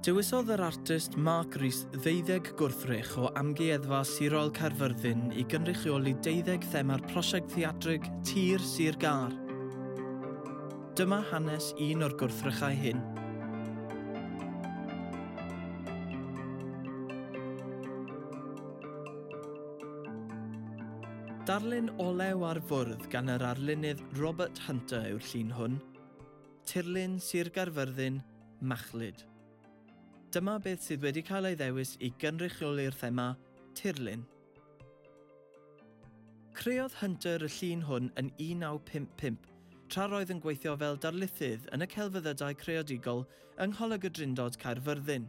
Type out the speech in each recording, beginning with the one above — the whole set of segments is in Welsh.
Dewisodd yr artist Mark Rees ddeuddeg gwrthrych o Amgueddfa Sirol Caerfyrddin i gynrychioli deuddeg thema'r prosiect theatrig Tir Sir Gâr. Dyma hanes un o'r gwrthrychau hyn. Darlun olew ar fwrdd gan yr arlunydd Robert Hunter yw'r llun hwn, Tirlun Sir Gaerfyrddin, Machlud. Dyma beth sydd wedi cael ei ddewis i gynrychioli'r thema 'Tirlun'. Creodd Hunter y llun hwn yn 1955, tra'r oedd yn gweithio fel darlithydd yn y Celfyddydau Creadigol yng Ngholeg y Drindod, Caerfyrddin.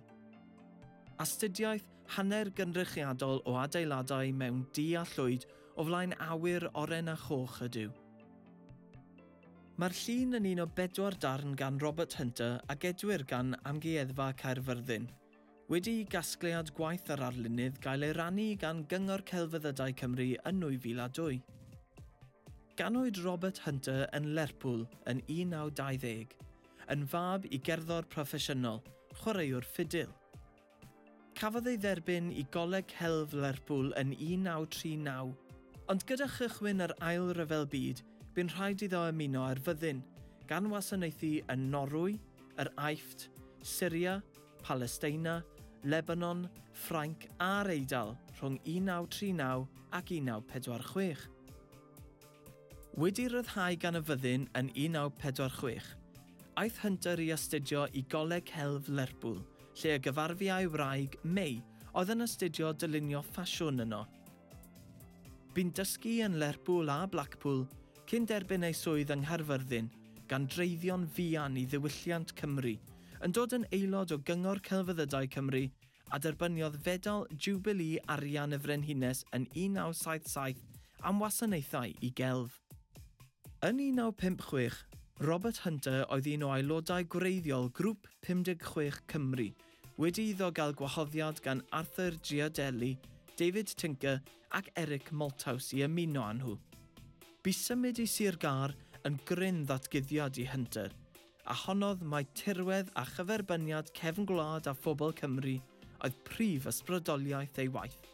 Astudiaeth Hanner gynrychiadol o adeiladau mewn du a llwyd o flaen awyr oren a choch ydyw. Mae'r llun yn un o bedwar darn gan Robert Hunter a gedwir gan Amgueddfa Caerfyrddin. Wedi i gasgliad gwaith yr arlunydd gael ei rannu gan Gyngor Celfyddydau Cymru yn 2002. Ganwyd Robert Hunter yn Lerpwl yn 1920, yn fab i gerddor proffesiynol, chwaraewr ffidil. Cafodd ei dderbyn i Goleg Celf Lerpwl yn 1939, ond gyda chychwyn yr Ail Ryfel Byd bu'n rhaid iddo ymuno â'r fyddin, gan wasanaethu yn Norwy, yr Aifft, Syria, Palesteina, Lebanon, Ffrainc a'r Eidal rhwng 1939 ac 1946. Wedi rhyddhau gan y fyddin yn 1946, aeth Hunter i astudio i Goleg Celf Lerpwl, lle y gyfarfu â'i wraig, May, oedd yn astudio dylunio ffasiwn yno. Bu'n dysgu yn Lerpwl a Blackpool cyn derbyn ei swydd yng Nghaerfyrddin, gan dreiddio'n fuan i ddiwylliant Cymru, yn dod yn aelod o Gyngor Celfyddydau Cymru a derbyniodd Fedal Jiwbilî Arian y Frenhines yn 1977 am wasanaethau i gelf. Yn 1956, Robert Hunter oedd un o aelodau gwreiddiol Grŵp 56 Cymru, wedi iddo gael gwahoddiad gan Arthur Giardelli, David Tinker ac Eric Malthouse i ymuno â nhw. Bu symud i Sir Gâr yn gryn ddatguddiad i Hunter, a honnodd mai tirwedd a chyferbyniad cefn gwlad a phobl Cymru oedd prif ysbrydoliaeth ei waith.